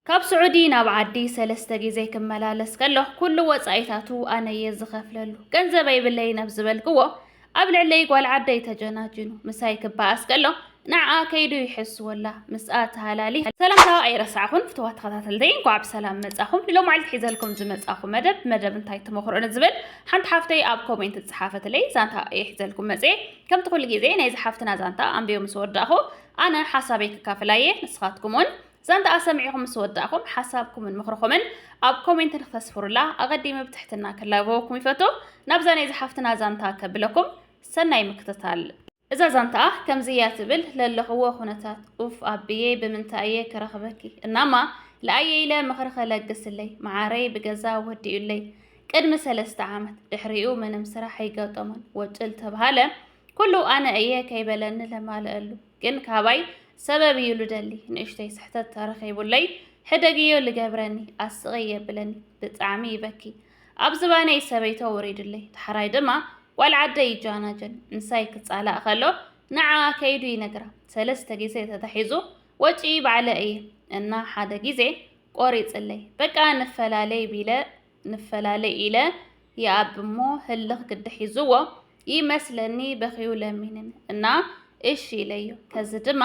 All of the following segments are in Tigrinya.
ካብ ስዑዲ ናብ ዓዲ ሰለስተ ግዜ ክመላለስ ከሎ ኩሉ ወጻኢታቱ ኣነ እየ ዝኸፍለሉ ገንዘብ ኣይብለይን ኣብ ዝበልክዎ ኣብ ልዕለይ ጓል ዓደይ ተጀናጅኑ ምሳይ ክበኣስ ከሎ ንዓኣ ከይዱ ይሕስወላ ምስኣ ተሃላሊ ሰላምታ ኣይረሳዕኹን ፍትዋ ተኸታተልተይ እንኳዕ ብሰላም መጻኹም ንሎ መዓልቲ ሒዘልኩም ዝመጻኹ መደብ መደብ እንታይ ተመኽሮ ንዝብል ሓንቲ ሓፍተይ ኣብ ኮሜንት ዝጸሓፈትለይ ዛንታ እየ ሒዘልኩም መጽ ከምቲ ኩሉ ግዜ ናይ ዝሓፍትና ዛንታ ኣንቢዮ ምስ ወዳእኹ ኣነ ሓሳበይ ክካፍላ እየ ንስኻትኩም እውን ዛንታኣ ሰሚዕኹም ምስ ወዳእኹም ሓሳብኩምን ምኽርኹምን ኣብ ኮሜንት ንክተስፍሩላ ኣቐዲመ ብትሕትና ክላበወኩም ይፈቱ። ናብዛ ናይ ዝሓፍትና ዛንታ ከብለኩም ሰናይ ምክትታል። እዛ ዛንታኣ ከምዚ እያ ትብል ለለኽዎ ኩነታት ኡፍ ኣቢየይ ብምንታይ እየ ክረኽበኪ እናማ ለኣየ ኢለ ምኽሪ ከለግስለይ መዓረይ ብገዛ ወዲኡለይ ቅድሚ ሰለስተ ዓመት ድሕሪኡ ምንም ስራሕ ኣይገጠሞን ወጭል ተብሃለ ኩሉ ኣነ እየ ከይበለኒ ለማልአሉ ግን ካባይ ሰበብ እዩ ልደሊ ንእሽተይ ስሕተት ተረኺቡለይ ሕደግዮ ልገብረኒ ኣስቕይ የብለኒ ብጣዕሚ ይበኪ ኣብ ዝባነይ ሰበይቶ ወሪዱለይ ተሓራይ ድማ ጓል ዓደይ ይጃናጀን ንሳይ ክጻላእ ከሎ ንዓኣ ከይዱ ይነግራ ሰለስተ ግዜ ተታሒዙ ወጪ ባዕለ እየ እና ሓደ ግዜ ቆሪጽለይ በቃ ንፈላለይ ቢለ ንፈላለ ኢለ ይኣቢ እሞ ህልኽ ግዲ ሒዝዎ ይመስለኒ በኺዩ ለሚንን እና እሺ ኢለዮ። ከዚ ድማ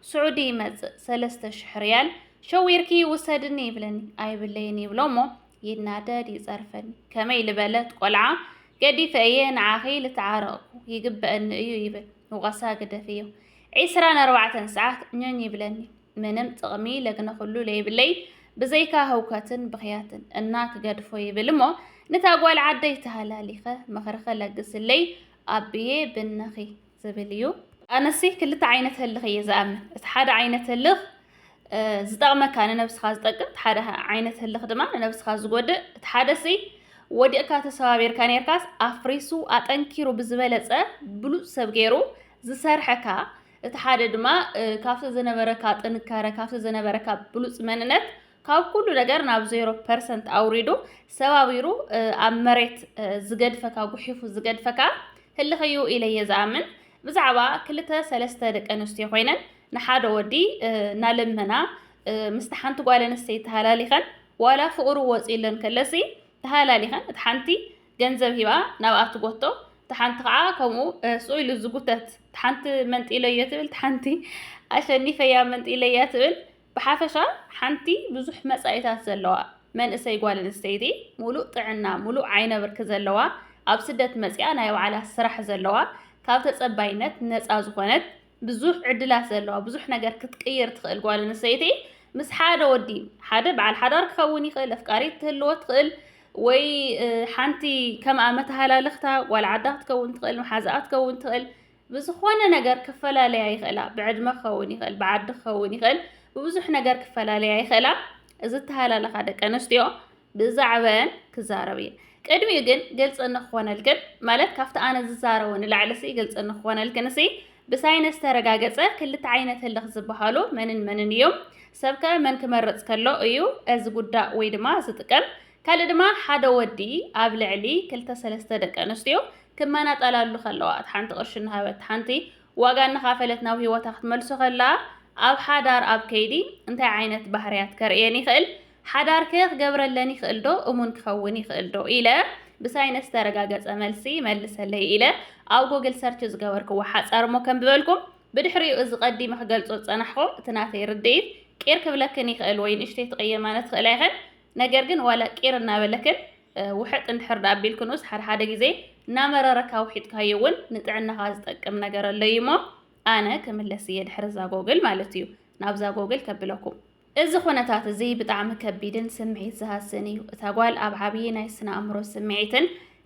ስዑዲ ይመጽእ ሰለስተ ሽሕ ሪያል ሸዊርኪ ውሰድኒ ይብለኒ ኣይብለይን ይብሎ እሞ ይናደድ ይጸርፈኒ ከመይ ልበለት ቆልዓ ገዲፈ እየ ንዓኺ ልትዓረቕኩ ይግበእኒ እዩ ይብል ውቐሳ ግደፍዮ ዒስራን ኣርባዕተን ሰዓት ኞኝ ይብለኒ ምንም ጥቕሚ ለግነኹሉ ለይብለይ ብዘይካ ህውከትን ብኽያትን እና ክገድፎ ይብል እሞ ንታ ጓል ዓደይ ተሃላሊኸ ምኽሪ ከለግስለይ ኣብየ ብነኺ ዝብል እዩ። ኣነሲ ክልተ ዓይነት ህልኽ እየ ዝኣምን እቲ ሓደ ዓይነት ህልኽ ዝጠቕመካ ንነብስኻ ዝጠቅም እቲ ሓደ ዓይነት ህልኽ ድማ ንነብስኻ ዝጎድእ እቲ ሓደሲ ወዲቕካ ተሰባቢርካ ነርካስ ኣፍሪሱ ኣጠንኪሩ ብዝበለፀ ብሉፅ ሰብ ገይሩ ዝሰርሐካ እቲ ሓደ ድማ ካብቲ ዝነበረካ ጥንካረ ካብቲ ዝነበረካ ብሉፅ መንነት ካብ ኩሉ ነገር ናብ ዜሮ ፐርሰንት ኣውሪዱ ሰባቢሩ ኣብ መሬት ዝገድፈካ ጉሒፉ ዝገድፈካ ህልኽዩ ኢለየ ዝኣምን ብዛዕባ ክልተ ሰለስተ ደቂ ኣንስትዮ ኮይነን ንሓደ ወዲ እናለመና ምስቲ ሓንቲ ጓል ኣንስተይቲ ተሃላሊኸን ዋላ ፍቕሩ ወፂኡለን ከለሲ ተሃላሊኸን እቲ ሓንቲ ገንዘብ ሂባ ናብኣ ትጎቶ እታ ሓንቲ ከዓ ከምኡ ስኡ ኢሉ ዝጉተት እታ ሓንቲ መንጢለዮ ትብል እታ ሓንቲ ኣሸኒፈያ መንጢለያ ትብል ብሓፈሻ ሓንቲ ብዙሕ መጻኢታት ዘለዋ መንእሰይ ጓል ኣንስተይቲ ሙሉእ ጥዕና ሙሉእ ዓይነ ብርኪ ዘለዋ ኣብ ስደት መጽኣ ናይ ባዕላ ስራሕ ዘለዋ ካብ ተጸባይነት ነጻ ዝኾነት ብዙሕ ዕድላት ዘለዋ ብዙሕ ነገር ክትቅይር ትኽእል ጓል ኣንስተይቲ ምስ ሓደ ወዲ ሓደ በዓል ሓዳር ክኸውን ይኽእል፣ ኣፍቃሪት ትህልዎ ትኽእል ወይ ሓንቲ ከምኣ መተሃላለኽታ ጓል ዓዳ ክትከውን ትኽእል፣ መሓዛኣ ክትከውን ትኽእል። ብዝኾነ ነገር ክፈላለያ ይኽእላ። ብዕድመ ክኸውን ይኽእል፣ ብዓዲ ክኸውን ይኽእል፣ ብብዙሕ ነገር ክፈላለያ ይኽእላ። እዚ ተሃላለኻ ደቂ ኣንስትዮ ብዛዕበን ክዛረብ እየ ቅድሚኡ ግን ግልፂ ንክኾነልክን ማለት ካብቲ ኣነ ዝዛረቦ ንላዕሊ ሲ ግልፂ ንክኾነልክን ሲ ብሳይነስ ተረጋገፀ ክልተ ዓይነት ህልኽ ዝበሃሉ መንን መንን እዮም ሰብከ መን ክመርፅ ከሎ እዩ እዚ ጉዳእ ወይ ድማ ዝጥቀም ካልእ ድማ ሓደ ወዲ ኣብ ልዕሊ ክልተ ሰለስተ ደቂ ኣንስትዮ ክመናጠላሉ ከለዋ እቲ ሓንቲ ቅርሺ እናሃበት ሓንቲ ዋጋ እናኻፈለት ናብ ህይወታ ክትመልሶ ከላ ኣብ ሓዳር ኣብ ከይዲ እንታይ ዓይነት ባህርያት ከርእየን ይኽእል ሓዳር'ከ ክገብረለን ይኽእልዶ? እሙን ክኸውን ይኽእልዶ? ኢለ ብሳይነስ ዝተረጋገጸ መልሲ መልሰለይ ኢለ ኣብ ጎግል ሰርች ዝገበርክዎ ሓጻር'ሞ ከንብበልኩም። ብድሕሪኡ እዚ ቀዲመ ክገልጾ ዝጸናሕኩ እቲ ናተይ ርድኢት ቂር ክብለክን ይኽእል ወይ ንእሽተይ ትቕየማና ትኽእላ ኢኽን። ነገር ግን ዋላ ቂር እናበለክን ውሕጥ እንድሕር ደኣ ኣቢልክንኡስ ሓድሓደ ግዜ እናመረረካ ውሒጥካዮ እውን ንጥዕናኻ ዝጠቅም ነገር ኣሎ'ዩ'ሞ ኣነ ክምለስ'የ ድሕሪ'ዛ ጎግል ማለት'ዩ ናብ'ዛ ጎግል ከብለኩም። እዚ ዅነታት እዚ ብጣዕሚ ከቢድን ስምዒት ዝሃስን እዩ። እታ ጓል ኣብ ዓብዪ ናይ ስነ-ኣእምሮ ስምዒትን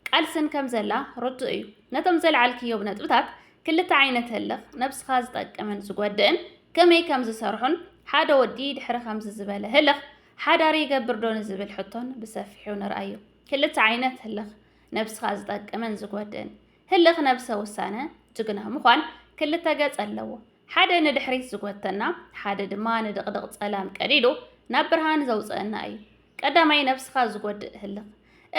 ቃልስን ከም ዘላ ርዱእ እዩ። ነቶም ዘልዓልክዮም ነጥብታት፣ ክልተ ዓይነት ህልኽ፣ ነብስኻ ዝጠቅምን ዝጐድእን፣ ከመይ ከም ዝሰርሑን፣ ሓደ ወዲ ድሕሪ ከምዚ ዝበለ ህልኽ ሓዳር ይገብር ዶ ንዝብል ሕቶን ብሰፊሑ ንርኣዮ። ክልተ ዓይነት ህልኽ፣ ነብስኻ ዝጠቅምን ዝጐድእን፣ ህልኽ ነብሰ ውሳነ ጅግና ምዃን ክልተ ገጽ ኣለዎ። ሓደ ንድሕሪት ዝጎተና ሓደ ድማ ንድቕድቕ ጸላም ቀዲዱ ናብ ብርሃን ዘውጽእና እዩ። ቀዳማይ ነብስኻ ዝጎድእ ህልኽ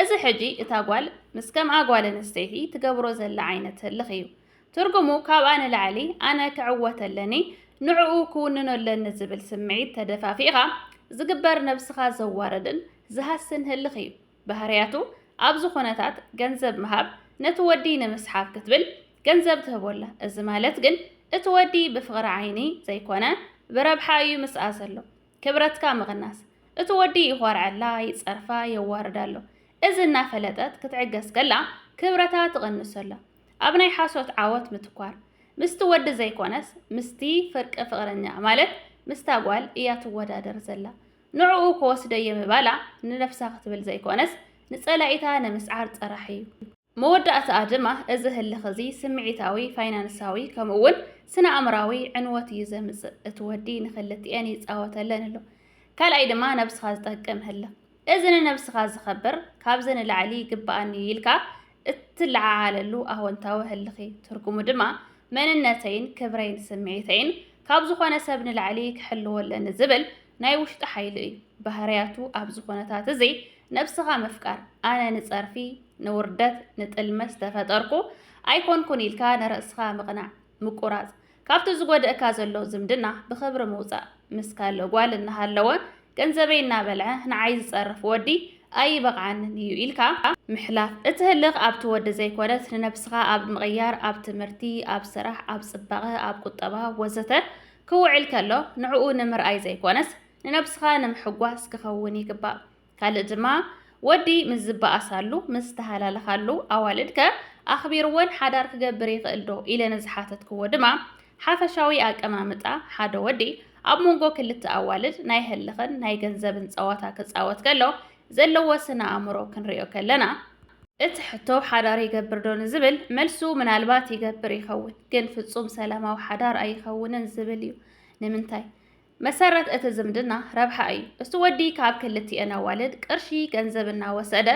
እዚ ሕጂ እታ ጓል ምስ ከምኣ ጓል ኣንስተይቲ ትገብሮ ዘላ ዓይነት ህልኽ እዩ። ትርጉሙ ካብኣ ንላዕሊ ኣነ ክዕወት ኣለኒ ንዕኡ ክውንኖ ኣለኒ ዝብል ስምዒት ተደፋፊእኻ ዝግበር ነብስኻ ዘዋርድን ዝሃስን ህልኽ እዩ። ባህርያቱ ኣብ ዝኾነታት ገንዘብ ምሃብ ነቲ ወዲ ንምስሓብ ክትብል ገንዘብ ትህቦ ኣላ። እዚ ማለት ግን እቲ ወዲ ብፍቕሪ ዓይኒ ዘይኮነ ብረብሓ እዩ ምስኣ ዘሎ። ክብረትካ ምቕናስ። እቲ ወዲ ይኾርዐላ፣ ይጸርፋ፣ የዋርዳ ኣሎ። እዚ እናፈለጠት ክትዕገስ ከላ ክብረታ ትቕንሶ ኣላ። ኣብ ናይ ሓሶት ዓወት ምትኳር። ምስቲ ወዲ ዘይኮነስ ምስቲ ፍርቂ ፍቕረኛኣ ማለት ምስታ ጓል እያ ትወዳደር ዘላ። ንዕኡ ክወስደ'የ ምባላ ንነፍሳ ክትብል ዘይኮነስ ንጸላኢታ ንምስዓር ጥራሕ እዩ። መወዳእታኣ ድማ እዚ ህልኽ'ዚ ስምዒታዊ፣ ፋይናንሳዊ ከምኡ'ውን ስነ-ኣእምራዊ ዕንወት እዩ ዘምጽእ። እቲ ወዲ ንክልቲኤን ይጻወተለን ኣሎ። ካልኣይ ድማ ነብስኻ ዝጠቅም ህልኽ። እዚ ንነብስኻ ዝኸብር ካብዚ ንላዕሊ ይግበኣኒ'ዩ ኢልካ እትለዓዓለሉ ኣወንታዊ ህልኺ፣ ትርጉሙ ድማ መንነተይን ክብረይን ስምዒተይን ካብ ዝኾነ ሰብ ንላዕሊ ክሕልዎ ኣለኒ ዝብል ናይ ውሽጢ ሓይሊ እዩ። ባህርያቱ ኣብዚ ኩነታት እዚ ነብስኻ ምፍቃር፣ ኣነ ንጸርፊ፣ ንውርደት፣ ንጥልመት ዝተፈጠርኩ ኣይኮንኩን ኢልካ ንርእስኻ ምቕናዕ፣ ምቁራጽ፣ ካብቲ ዝጎደእካ ዘሎ ዝምድና ብኽብሪ ምውፃእ ምስ ካለእ ጓል እናሃለወ ገንዘበይ እናበልዐ ንዓይ ዝፀርፍ ወዲ ኣይበቕዓንን እዩ ኢልካ ምሕላፍ። እቲ ህልኽ ኣብቲ ወዲ ዘይኮነስ ንነብስኻ ኣብ ምቕያር፣ ኣብ ትምህርቲ፣ ኣብ ስራሕ፣ ኣብ ፅባቐ፣ ኣብ ቁጠባ ወዘተ ክውዕል ከሎ ንዕኡ ንምርኣይ ዘይኮነስ ንነብስኻ ንምሕጓስ ክኸውን ይግባእ። ካልእ ድማ ወዲ ምስ ዝበኣሳሉ፣ ምስ ዝተሃላለኻሉ፣ ኣዋልድ ከ ኣኽቢርወን ሓዳር ክገብር ይኽእል ዶ ኢለ ንዝሓተትክዎ ድማ፣ ሓፈሻዊ ኣቀማምጣ ሓደ ወዲ ኣብ መንጎ ክልተ ኣዋልድ ናይ ህልኽን ናይ ገንዘብን ጸዋታ ክጻወት ከሎ ዘለዎ ስነ-ኣእምሮ ክንሪኦ ከለና፣ እቲ ሕቶ ሓዳር ይገብር ዶ ንዝብል መልሱ ምናልባት ይገብር ይኸውን፣ ግን ፍጹም ሰላማዊ ሓዳር ኣይኸውንን ዝብል እዩ። ንምንታይ? መሰረት እቲ ዝምድና ረብሓ እዩ። እቲ ወዲ ካብ ክልቲኤን ኣዋልድ ቅርሺ፣ ገንዘብ፣ እናወሰደ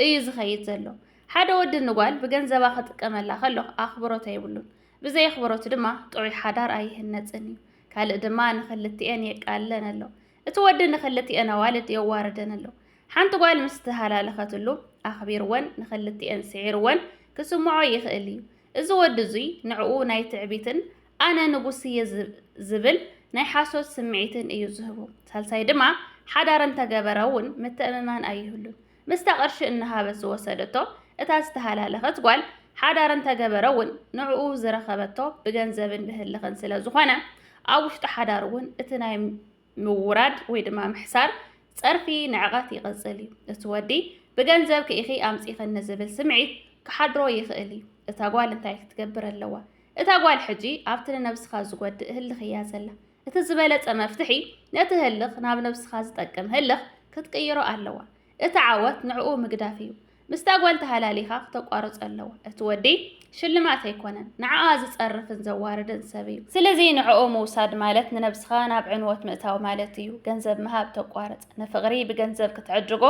እዩ ዝኸይድ ዘሎ። ሓደ ወዲ ንጓል ብገንዘባ ክጥቀመላ ከሎ ኣኽብሮት ኣይብሉን። ብዘይ ኣኽብሮት ድማ ጥዑይ ሓዳር ኣይህነጽን እዩ። ካልእ ድማ ንክልቲኤን የቃልለን ኣሎ። እቲ ወዲ ንክልቲኤን ኣዋልድ የዋርደን ኣሎ። ሓንቲ ጓል ምስ ተሃላለኸትሉ ኣኽቢርወን ንክልቲኤን ስዒርወን ክስምዖ ይኽእል እዩ። እዚ ወዲ እዙይ ንዕኡ ናይ ትዕቢትን ኣነ ንጉስ እየ ዝብል ናይ ሓሶት ስምዒትን እዩ ዝህቡ። ሳልሳይ ድማ ሓዳር እንተገበረ እውን ምትእምማን ኣይህሉን። ምስታ ቅርሺ እናሃበት ዝወሰደቶ እታ ዝተሃላለኸት ጓል ሓዳር እንተገበረ እውን ንዕኡ ዝረኸበቶ ብገንዘብን ብህልኽን ስለ ዝኾነ ኣብ ውሽጢ ሓዳር እውን እቲ ናይ ምውራድ ወይ ድማ ምሕሳር ጸርፊ ንዕቐት ይቕጽል እዩ። እቲ ወዲ ብገንዘብ ክኢኺ ኣምጺኽን ንዝብል ስምዒት ክሓድሮ ይኽእል እዩ። እታ ጓል እንታይ ክትገብር ኣለዋ? እታ ጓል ሕጂ ኣብቲ ንነብስኻ ዝጎድእ ህልኽ እያ ዘላ። እቲ ዝበለጸ መፍትሒ ነቲ ህልኽ ናብ ነብስኻ ዝጠቅም ህልኽ ክትቅይሮ ኣለዋ። እቲ ዓወት ንዕኡ ምግዳፍ እዩ። ምስታ ጓል ተሃላሊኻ ክተቋርጾ ኣለዎ። እቲ ወዲ ሽልማት ኣይኮነን፣ ንዓኣ ዝጸርፍን ዘዋርድን ሰብ እዩ። ስለዚ ንዕኡ ምውሳድ ማለት ንነብስኻ ናብ ዕንወት ምእታው ማለት እዩ። ገንዘብ ምሃብ ተቋርጽ። ንፍቕሪ ብገንዘብ ክትዕድጎ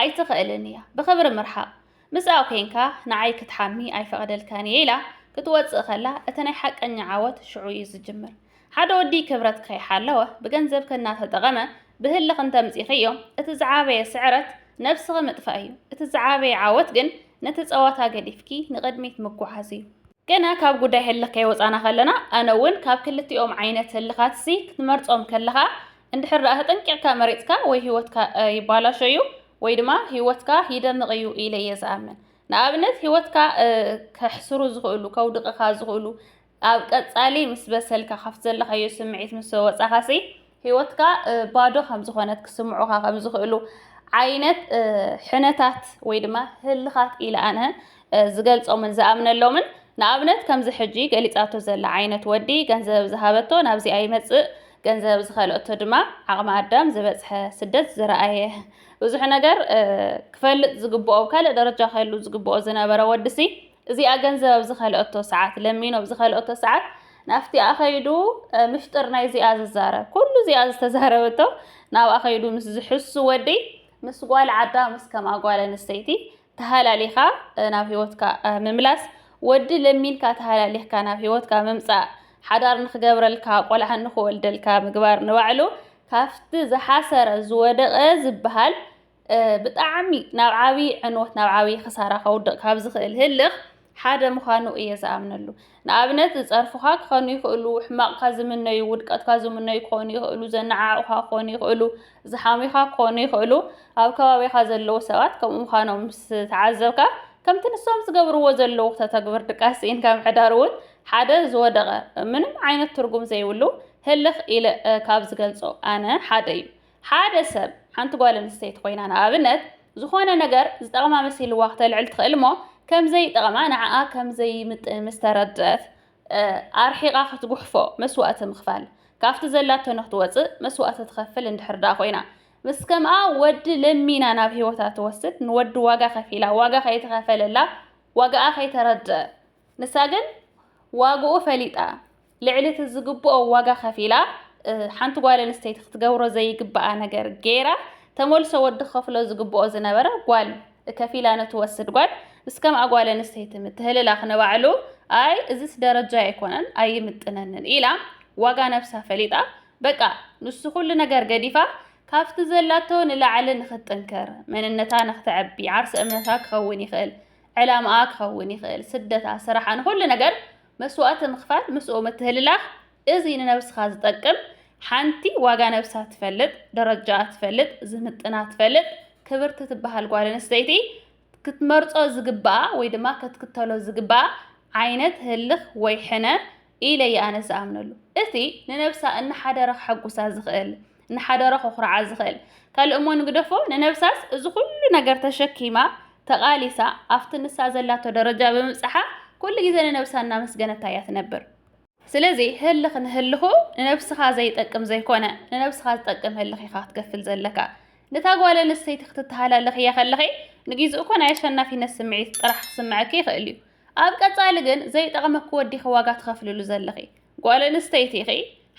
ኣይትኽእልን እያ። ብኽብሪ ምርሓቕ። ምስኣ ኮይንካ ንዓይ ክትሓሚ ኣይፈቕደልካን እየ ኢላ ክትወጽእ ከላ እቲ ናይ ሓቀኛ ዓወት ሽዑ እዩ ዝጅምር። ሓደ ወዲ ክብረት ከይሓለወ ብገንዘብኪ እናተጠቐመ ብህልኽ እንተምጺኺዮ እቲ ዝዓበየ ስዕረት ነብስኺ ምጥፋእ እዩ። እቲ ዝዓበየ ዓወት ግን ነቲ ጸዋታ ገዲፍኪ ንቕድሚት ምጉዓዝ እዩ። ገና ካብ ጉዳይ ህልኽ ከይወጻና ከለና ኣነ እውን ካብ ክልቲኦም ዓይነት ህልኻትሲ ክትመርጾም ከለኻ እንድሕር ደኣ ተጠንቂቕካ መሪጽካ ወይ ህይወትካ ይባላሾ እዩ ወይ ድማ ህይወትካ ይደምቕ እዩ ኢለ እየ ዝኣምን። ንኣብነት ህይወትካ ከሕስሩ ዝኽእሉ ከውድቕኻ ዝኽእሉ ኣብ ቀጻሊ ምስ በሰልካ ካብቲ ዘለኻዮ ስምዒት ምስ ወጻኻሲ ህይወትካ ባዶ ከም ዝኾነት ክስምዑኻ ከም ዝኽእሉ ዓይነት ሕነታት ወይ ድማ ህልኻት ኢለ ኣነ ዝገልጾምን ዝኣምነሎምን ንኣብነት ከምዚ ሕጂ ገሊጻቶ ዘላ ዓይነት ወዲ ገንዘብ ዝሃበቶ ናብዚ ኣይመጽእ ገንዘብ ዝኸልኦቶ ድማ ዓቕሚ ኣዳም ዝበጽሐ ስደት ዝረኣየ ብዙሕ ነገር ክፈልጥ ዝግብኦ ካልእ ደረጃ ከሉ ዝግብኦ ዝነበረ ወድሲ እዚኣ ገንዘብ ኣብ ዝኸልኦቶ ሰዓት ለሚኑ ኣብ ዝኸልኦቶ ሰዓት ናብቲኣ ከይዱ ምፍጥር ናይ እዚኣ ዝዛረብ ኩሉ እዚኣ ዝተዛረበቶ ናብኣ ከይዱ ምስ ዝሕሱ ወዲ ምስ ጓል ዓዳ ምስ ከምኣ ጓል ኣንስተይቲ ተሃላሊኻ ናብ ህይወትካ ምምላስ ወዲ ለሚንካ ተሃላሊኽካ ናብ ህይወትካ ምምፃእ ሓዳር ንክገብረልካ ቆልዓ ንክወልደልካ ምግባር ንባዕሉ ካብቲ ዝሓሰረ ዝወደቐ ዝበሃል ብጣዕሚ ናብ ዓብዪ ዕንወት ናብ ዓብዪ ክሳራ ከውድቕ ካብ ዝኽእል ህልኽ ሓደ ምዃኑ እየ ዝኣምነሉ ንኣብነት ዝፀርፉኻ ክኾኑ ይኽእሉ ሕማቕካ ዝምነዩ ውድቀትካ ዝምነዩ ክኾኑ ይኽእሉ ዘነዓዕቑኻ ክኾኑ ይኽእሉ ዝሓሙኻ ክኾኑ ይኽእሉ ኣብ ከባቢኻ ዘለዉ ሰባት ከምኡ ምዃኖም ምስ ተዓዘብካ ከምቲ ንሶም ዝገብርዎ ዘለዉ ተተግብር ድቃስ ስኢንካ ምሕዳር እውን ሓደ ዝወደቐ ምንም ዓይነት ትርጉም ዘይብሉ ህልኽ ኢለ ካብ ዝገልጾ ኣነ ሓደ እዩ ሓደ ሰብ፣ ሓንቲ ጓል ኣንስተይቲ ኮይና ንኣብነት፣ ዝኾነ ነገር ዝጠቕማ መሲልዋ ክተልዕል ትኽእል እሞ ከም ዘይጠቕማ ንዓኣ ከም ዘይምጥን ምስ ተረድኣት ኣርሒቓ ክትጉሕፎ መስዋእቲ ምኽፋል ካብቲ ዘላቶ ንክትወጽእ መስዋእቲ ትኸፍል እንድሕር ደኣ ኮይና ምስ ከምኣ ወዲ ለሚና ናብ ህይወታ ትወስድ ንወዲ ዋጋ ከፊላ ዋጋ ከይተኸፈለላ ዋጋኣ ከይተረድኣ ንሳ ግን ዋግኡ ፈሊጣ ልዕሊ እቲ ዝግብኦ ዋጋ ከፊላ ሓንቲ ጓል ኣንስተይቲ ክትገብሮ ዘይግብኣ ነገር ገይራ ተመልሶ ወዲ ክኸፍሎ ዝግብኦ ዝነበረ ጓል ከፊላ ንትወስድ ጓል ምስ ከምኣ ጓል ኣንስተይቲ ምትህልላኽ ንባዕሉ ኣይ እዚስ ደረጃ ኣይኮነን ኣይምጥነንን ኢላ ዋጋ ነብሳ ፈሊጣ በቃ ንሱ ኩሉ ነገር ገዲፋ ካብቲ ዘላቶ ንላዕሊ ንኽትጥንክር መንነታ ንኽተዕቢ ዓርሰ እምነታ ክኸውን ይኽእል ዕላማኣ ክኸውን ይኽእል ስደታ ስራሓ ንኹሉ ነገር መስዋእቲ ምኽፋል ምስኡ ምትህልላኽ እዚ ንነብስኻ ዝጠቅም ሓንቲ ዋጋ ነብሳ ትፈልጥ ደረጃኣ ትፈልጥ ዝምጥና ትፈልጥ ክብርቲ ትበሃል ጓል ኣንስተይቲ ክትመርጾ ዝግባኣ ወይ ድማ ከትክተሎ ዝግባኣ ዓይነት ህልኽ ወይ ሕነ ኢለ እየ ኣነ ዝኣምነሉ እቲ ንነብሳ እናሓደረ ከሐጉሳ ዝኽእል ንሓደሮ ከኹርዓ ዝኽእል ካልእ እሞ ንግደፎ ንነብሳስ እዚ ኩሉ ነገር ተሸኪማ ተቓሊሳ ኣብቲ ንሳ ዘላቶ ደረጃ ብምብጻሓ ኩሉ ግዜ ንነብሳ እናመስገነታ እያ ትነብር። ስለዚ ህልኽ ንህልኹ ንነብስኻ ዘይጠቅም ዘይኮነ ንነብስኻ ዝጠቅም ህልኽ ኢኻ ክትገፍል ዘለካ። ነታ ጓል ኣንስተይቲ ክትተሃላለኽያ ከለኺ ንግዜኡ እኮ ናይ ኣሸናፊነት ስምዒት ጥራሕ ክስምዐኪ ይኽእል እዩ። ኣብ ቀጻሊ ግን ዘይጠቕመኪ ወዲኺ ዋጋ ትኸፍልሉ ዘለኺ ጓል ኣንስተይቲ ኢኺ።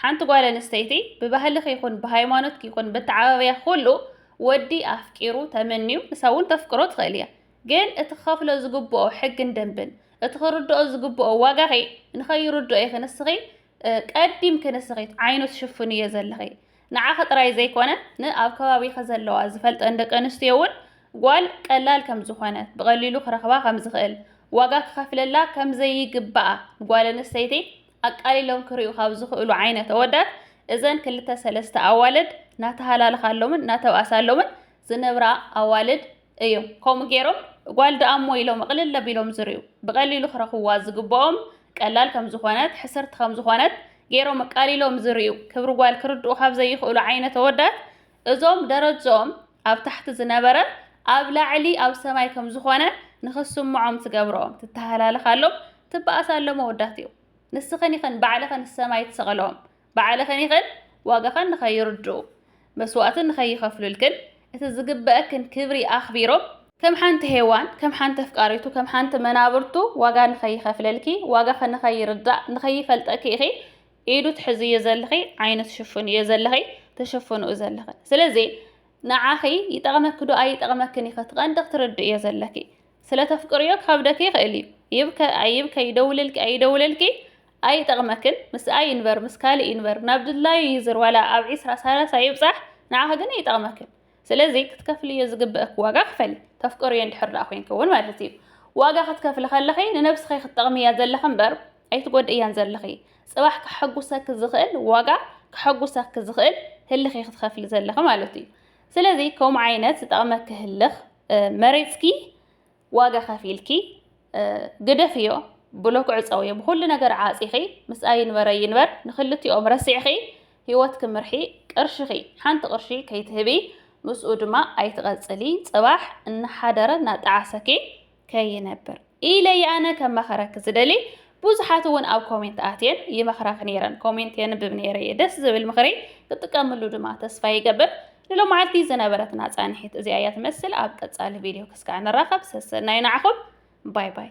ሓንቲ ጓል ኣንስተይቲ ብባህልኺ ይኹን ብሃይማኖትኪ ይኹን በተዓባብያኺ ኩሉ ወዲ ኣፍቂሩ ተመንዩ ንሳ እውን ተፍቅሮ ትኽእል እያ። ግን እቲ ክኸፍሎ ዝግብኦ ሕግን ደንብን እቲ ክርድኦ ዝግብኦ ዋጋኺ ንኸይርድኦ ኢኺ ንስኺ ቀዲምኪ ንስኺ ዓይኑ ትሽፍንዮ ዘለኺ። ንዓኺ ጥራይ ዘይኮነ ን ኣብ ከባቢኺ ዘለዋ ዝፈልጠን ደቂ ኣንስትዮ እውን ጓል ቀላል ከም ዝኾነት ብቐሊሉ ክረኽባ ከም ዝኽእል ዋጋ ክኸፍለላ ከም ዘይግባኣ ንጓል ኣንስተይቲ ኣቃሊሎም ክሪኡ ካብ ዝኽእሉ ዓይነት ኣወዳት እዘን ክልተ ሰለስተ ኣዋልድ ናተሃላልኻሎምን ናተብኣሳሎምን ዝነብራ ኣዋልድ እዮም ከምኡ ገይሮም ጓል ድኣሞ ኢሎም እቕልል ኣቢሎም ዝርእዩ ብቐሊሉ ክረኽብዋ ዝግብኦም ቀላል ከም ዝኾነት ሕስርቲ ከም ዝኾነት ገይሮም ኣቃሊሎም ዝርእዩ ክብሪ ጓል ክርድኡ ካብ ዘይኽእሉ ዓይነት ኣወዳት እዞም ደረጅኦም ኣብ ታሕቲ ዝነበረ ኣብ ላዕሊ ኣብ ሰማይ ከም ዝኾነ ንኽስምዖም ትገብሮም ትተሃላለኻሎም ትበኣሳሎም ኣወዳት እዩ ንስኽን ይኽን ባዕልኽን ሰማይ ትሰቐሎም ባዕልኽን'ኽን ዋጋኽን ንኸይርድኡ፣ መስዋእቲ ንኸይኸፍሉልክን፣ እቲ ዝግበኣክን ክብሪ ኣኽቢሮም፣ ከም ሓንቲ ሄዋን፣ ከም ሓንቲ ኣፍቃሪቱ፣ ከም ሓንቲ መናብርቱ ዋጋ ንኸይኸፍለልኪ፣ ዋጋኺ ንኸይርዳእ፣ ንኸይፈልጠኪ ኢኺ ኢዱ ትሕዝዮ ዘለኺ፣ ዓይኑ ትሽፍንዮ ዘለኺ፣ ትሽፍንኡ ዘለኽን። ስለዚ ንዓኺ ይጠቕመኪ'ዶ ኣይጠቕመክን ኢኺ እቲ ቀንዲ ክትርድእዮ ዘለኪ። ስለ ተፍቅርዮ ክከብደኪ ይክእል እዩ ይብከ ኣይብከ ይደውልልኪ ኣይደውለልኪ ኣይጠቅመክን ምስኣ ይንበር ምስ ካልእ ይንበር ናብ ድላዩ ይዝር ዋላ ኣብ ዒስራ ሳላሳ ይብጻሕ ንዓኪ ግን ኣይጠቅመክን ስለዚ ክትከፍልዮ ዝግበእኪ ዋጋ ክፈሊ ተፍቅርዮ እንድሕር ደኣ ኮንኪ እውን ማለት እዩ ዋጋ ክትከፍሊ ከለኪ ንነብስኪ ክትጠቅምያ ዘለኪ እምበር ኣይትጎድእያን ዘለኪ ጽባሕ ከሐጉሰኪ ዝክእል ዋጋ ከሐጉሰኪ ዝክእል ህልክ ክትከፍሊ ዘለኪ ማለት እዩ ስለዚ ከምኡ ዓይነት ዝጠቅመኪ ህልክ መሪጽኪ ዋጋ ከፊልኪ ግደፍዮ ብሎክ ዕጸውዮ ብኹሉ ነገር ዓጺኺ ምስኣ ይንበረ ይንበር ንኽልቲኦም ረሲዕኺ ህይወት ክምርሒ ቅርሽኺ ሓንቲ ቅርሺ ከይትህቢ ምስኡ ድማ ኣይትቐጽሊ ጽባሕ እናሓደረ እናጠዓሰኪ ከይነብር ኢለ እየ ኣነ ከማኸረኪ ዝደሊ ብዙሓት እውን ኣብ ኮሜንት ኣትየን ይመኽራኺ ነይረን ኮሜንት የንብብ ነይረ እየ ደስ ዝብል ምኽሪ ክትጥቀምሉ ድማ ተስፋ ይገብር ንሎማዓልቲ ዝነበረትና ፃንሒት እዚኣ እያ ትመስል ኣብ ቀፃሊ ቪድዮ ክስካዕ ንራኸብ ሰሰናዩ ንዓኹም ባይ ባይ